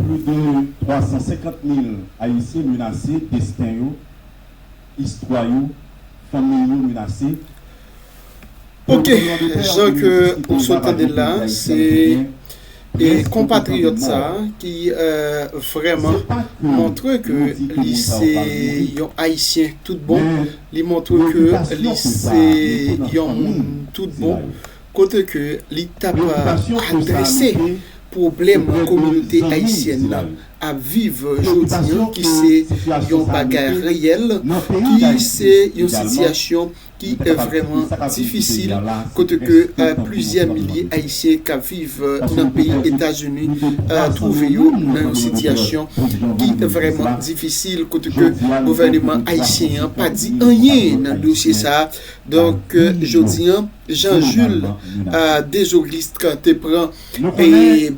Plis de 350 mil Ayisyen menase desten yo, istwa yo, fanmiy yo menase. Ok, jan ke ou sot tandel la, se konpatriyòt sa a ki vrèman montre ke li se yon Ayisyen tout bon, li montre ke li se yon moun tout bon. kote ke li t ap adrese pwoblèm kominote ayisyèn nan ap viv jodi an ki se yon bagay reyèl, ki se yon sitiyasyon ki vrèman difisil kote ke plizyè milye ayisyen k ap viv nan peyi Etazini twouve yo nan yon sitiyasyon ki vrèman difisil kote ke gouvèneman ayisyen an pa di anyen nan dosye sa a. Donk jodi an. Jean Jules Desaulystres te pran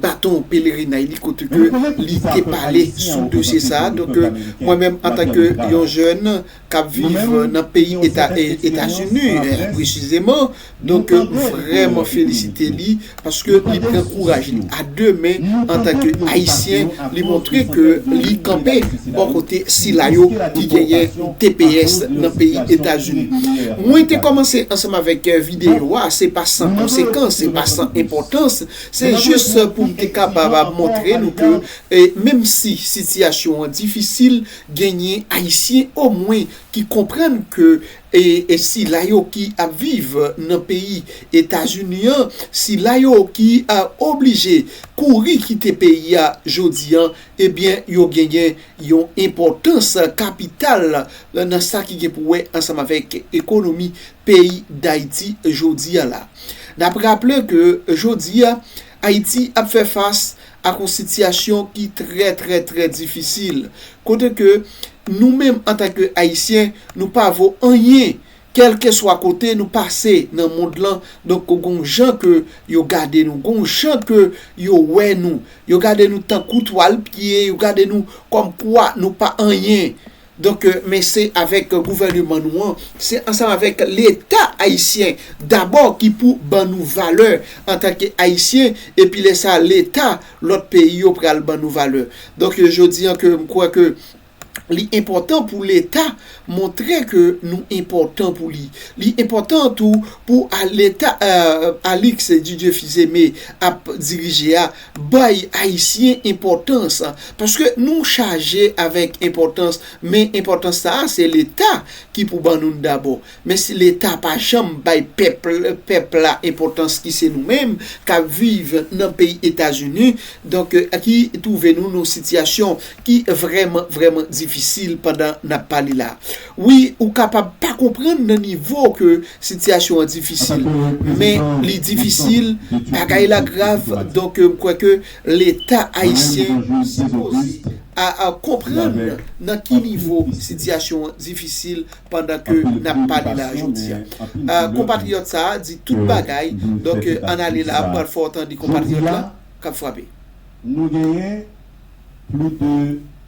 baton pelerinay li kote ke li te pale sou dosye sa a. Donk mwen menm antanke yon jèn k ap viv nan peyi Etazini presizeman, donk vreman felisite li. Paske li pran kouraj li a 2 men antanke Ayisyen, li montre ke li kanpe bò kote sila yo ki genyen tps nan peyi Etazini. Mwen te kòmanse ansanm avèk videyo a, se pa san konsekans, se pa san enpòtans, se jis pou m te kapab montre nou ke menm si sitiyasyon an difisil, genyen Ayisyen omwen ki konprann ke E sila yo ki ap viv nan peyi Etazini an, sila yo ki oblije kouri kite peyi a jodi an, ebyen yo genyen yon enpòtans kapital nan sa ki gen pou wè ansanm avèk ekonomi peyi Dayiti jodi a la. N ap raple ke jodi a, Ayiti ap fè fas ak yon sitiyasyon ki trè trè trè difisil, kote ke nou menm antanke Ayisyen nou pa vo anyen kèlkeswa kote nou pase nan mond lan, donk gen yon jan ke yo gade nou, gen yon jan ke yo wè nou, yo gade nou tankou twal piye, yo gade nou kòmkwa nou pa anyen. Donk men se avèk gouvèneman nou an, se ansanm avèk leta ayisyen dabò ki pou ban nou valè antanke ayisyen epi lè sa leta lòt peyi yo pral ban nou valè. Donk jodi an ke m kwè ke li enpòtan pou leta montre ke nou enpòtan pou li. Li enpòtan tou pou leta Alix Didier Fils-Aimé ap dirije a Bay Ayisyen enpòtans, paske nou chaje avèk enpòtans, men enpòtans sa a se Leta ki pou ban nou l dabò. Men si Leta pa janm bay pèp, pèp la enpòtans ki se nou menm k ap viv nan peyi Etazini, donk ki twouve nou nan yon sitiyasyon ki vrèman, vrèman difisil pandan n ap pale la a. Wi ou kapab pa konprann nan nivo ke sitiyasyon an difisil men li difisil bagay la grav donk m kwè ke leta ayisyen sipoze a konprann nan ki nivo sitiyasyon an difisil pandan ke n ap pale la jodi a konpatriyòt sa a di tout bagay donk ann ale la m pral fè w tande konpatriyòt la k ap frape. Nou genyen pli de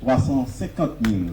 350 mil.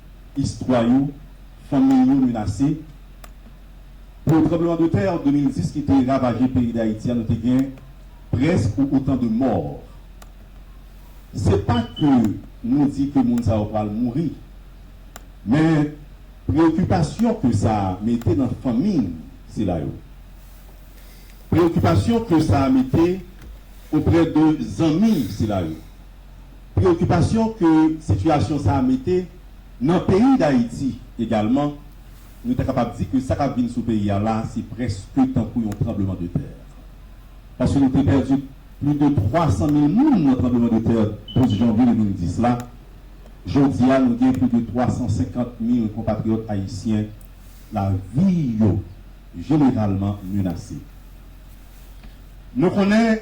Istwa yo, Fanmiy yo menase pou tranbleman de tè 2010 ki te ravaje peyi Dayiti a nou te gen prèsk ou otan de mò. Se pa ke nou di ke moun sa yo pral mouri, men preokipasyon ke sa mete nan fanmiy sila yo, preokipasyon ke sa mete oprè de zanmi sila yo. Preokipasyon ke sitiyasyon sa a mete nan peyi Dayiti egalman, nou ta kapab di ke sa k ap vin sou peyi a la a se prèske tankou yon tranbleman de tè. Paske nou te pèdi plis de 300 mil moun nan tranbleman de tè 12 janvye 2010 la, jodi a nou gen plis de 350 mil konpatriyòt ayisyen lavi yo jeneralman menase. Nou konnen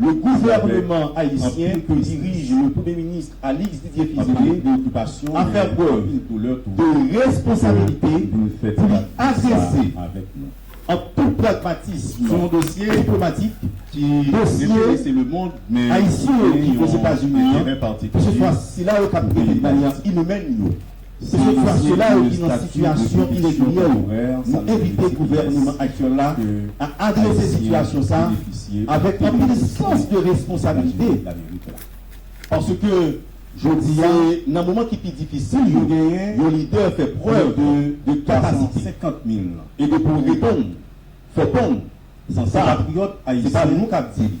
Le gouvèneman ayisyen ke dirij le premye minis Alix Didier Fils-Aimé a fè prèv de responsabilite pou li adrese an tout pragmatism sou yon dosye diplomatik, dosye ayisyen yo ki Ozetazini an, ke se swa sila yo kap trete de manyan inimèn yo. Se sèt fwa sila yo ki nan sitiyasyon iregilyè yo, nou envite gouvèneman aktyèl la a adrese sitiyasyon sa avèk anpil sans de responsabilite paske jodi a se nan moman ki pi difisil yo yon lidè fè prèv de kapasite e de pou reponn fò ponn san sa se pa nou k ap di li.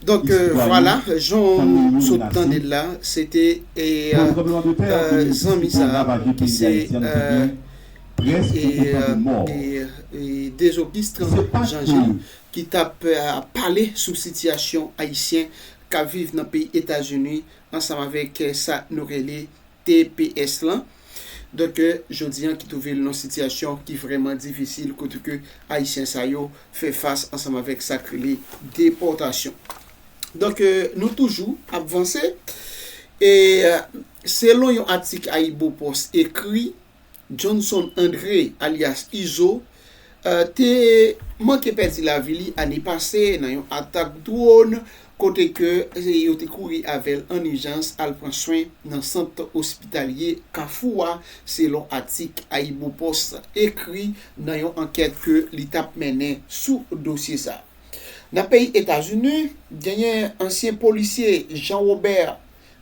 Donk vwala jan ou sot tande l la se te zanmi sa ki se Dezobistran Jan Jil ki t ap pale sou sitiyasyon ayisyen k ap viv nan peyi Etazini ansanm avèk sa nou rele tps lan. Donk jodi an ki twouve l nan yon sitiyasyon ki vrèman difisil kote ke ayisyen sa yo fè fas ansanm avèk sa k rele depòtasyon. Donk nou toujou ap vanse e selon yon atik AyiboPost ekri Johnson André alyas Izo te manke pèdi lavi li ane pase nan yon atak dwòn kote ke yo te kouri avè l an ijans al pran swen nan sant ospitalye Kafou a selon atik AyiboPost ekri nan yon ankèt ke li t ap mennen sou dosye sa. Nan peyi Etazini, genyen ansyen polisye Jean Robert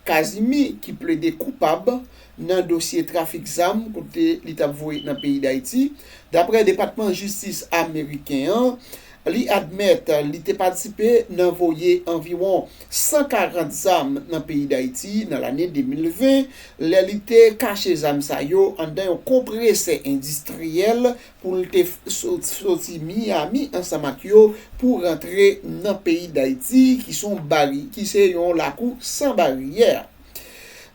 Kazimi ki plede koupab nan dosye trafik zam kote li t ap voye nan peyi Dayiti. Daprè Depatman Jistis ameriken an, li admèt li te patisipe nan voye anviwon 140 zam nan peyi Dayiti nan lane 2020, lè li te kache zam sa yo anndan yon konpresè endistriyèl pou l te soti Miyami ansanm ak yo pou rantre nan peyi Dayiti ki son bari ki se yon lakou san baryè.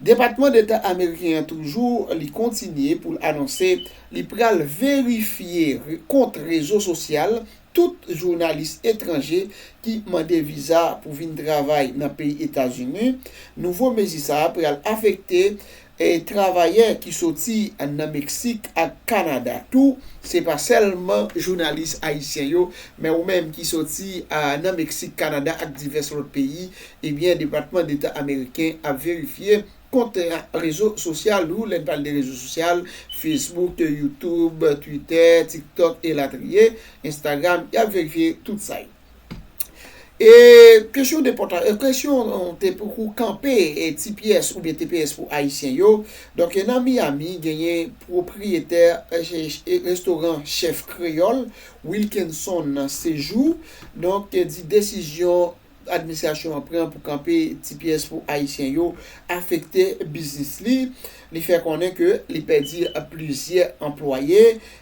Depatman Deta Ameriken an toujou li kontinye pou l anonse li pral verifye kont rezo sosyal tout jounalis etranje ki mande viza pou vin travay nan peyi Etazini, nouvo mezi sa a pral afekte E travayè ki soti nan Meksik ak Kanada tou, se pa sèlman jounalis ayisyen yo, men ou menm ki soti nan Meksik, Kanada ak divès lòt peyi, ebyen Depatman Deta Ameriken ap verifye kont rezo sosyal ou, lè n pale de rezo sosyal, Facebook, YouTube, Twitter, TikTok elatriye, Instagram, y ap verifye tout sa yo. E kesyon depòta, e kesyon te pou kou kanpe e tps oubyen tps pou ayisyen yo, donk e nan Miami genyen pwopriyetè e restoran chèf kreyòl Wilkenson Sejou, donk te di desizyon administrasyon an pran pou kanpe tps pou ayisyen yo afekte biznis li, li fè konnen ke li pèdi plizyè anplwaye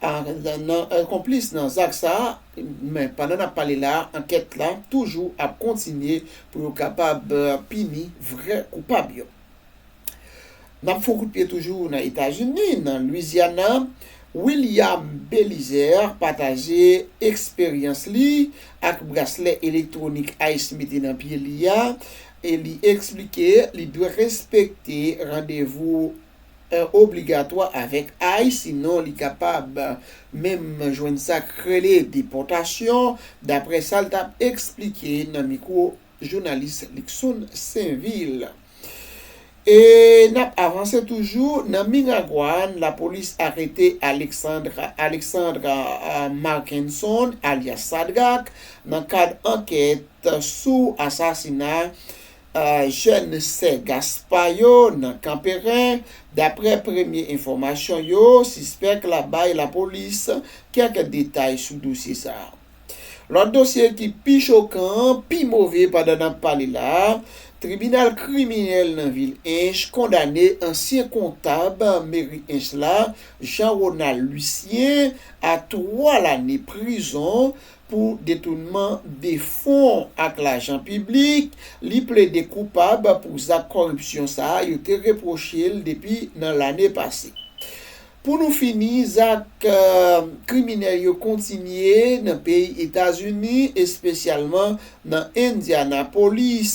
a konplis nan zak sa a, men pandan n ap pale la a ankèt la toujou ap kontinye pou yo kapab pini vrè koupab yo. N ap fon kout pye toujou nan Etazini, nan Louisiana, William Belizaire pataje eksperyans li ak braslè elektwonik ice mete nan pye li a e li eksplike li dwe respekte randevou an obligatwa avèk ice sinon li kapab menm jwenn sa k rele depòtasyon, daprè sa l t ap eksplike nan mikwo jounalis Luckson Sainvil. E n ap avanse toujou nan Miragwàn, lapolis arete Alexandre Alexandre Marckenson alyas Sadrac nan kad ankèt sou asasina Jèn sè Gaspa yo nan Kanperen, daprè premye enfòmasyon yo, sispèk la bay lapolis kèk detay sou dosye sa. Lòt dosye ki pi chokan an, pi move pandan n ap pale la, tribinal kriminèl nan vil Ench kondane ansyen kontab meri Ench la, Jean Ronald Lucien a 3 lane prizon pou detounman de fon ak lajan piblik, li plede koupab pou zak kòripsyon sa a yo te repwoche l depi nan lane pase. Pou nou fini, zak kriminèl yo kontinye nan peyi Etazini, espesyalman nan Indianapolis,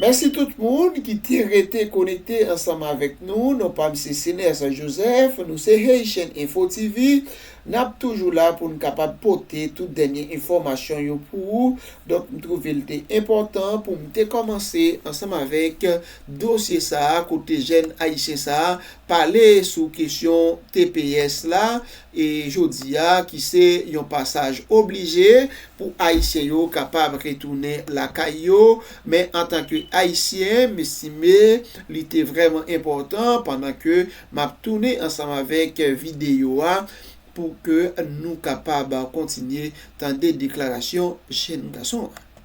Mèsi tout moun ki te rete konekte ansanm avèk nou, non pa m se Cenerse Joseph, nou se Haitian Info TV, n ap toujou la pou n kapab pote tout dènye enfòmasyon yo pou ou, donk m twouve l te enpòtan pou m te kòmanse ansanm avèk dosye sa a kote jèn ayisyen sa a pale sou kesyon tps la, e jodi a ki se yon pasaj oblije pou Ayisyen yo kapab retounen lakay yo, men antanke Ayisyen, m estime li te vrèman enpòtan pandan ke m ap tounen ansanm avèk videyo a pou ke nou kapab kontinye tande deklarasyon jenn gason an.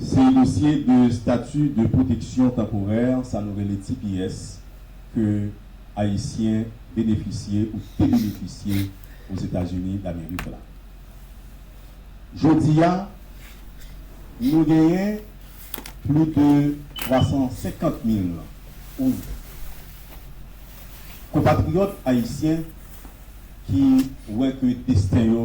Se dosye de statut de protection temporaire, sa nou rele tps, ke Ayisyen benefisye ou te benefisye Ozetazini Damerik la. Jodi a, nou genyen plis de 350 mil ou konpatriyòt Ayisyen ki wè ke desten yo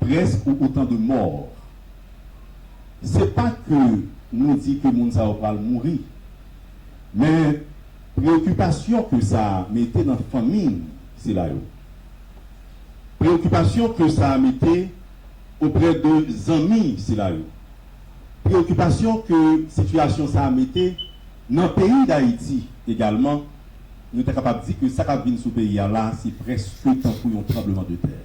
Presque ou autant de morts se pa ke nou di ke moun sa yo pral mouri men preokipasyon ke sa mete nan fanmi sila yo, preokipasyon ke sa mete auprès de zanmi sila yo, preokipasyon ke sitiyasyon sa mete nan peyi Dayiti egalman, nou ta kapab di ke sa kap vin sou peyi a la se presque tankou yon tremblement de terre.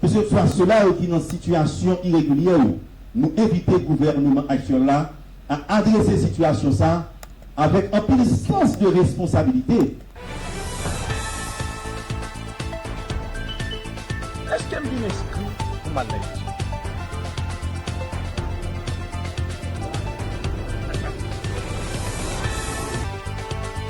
Keseswa sila yo ki nan sitiyasyon iregilyè yo, nou envite gouvèneman aktyèl la a adrese sitiyasyon sa avèk anpil sans de responsabilite. Eske m byen enskri pou m al nan Youtube?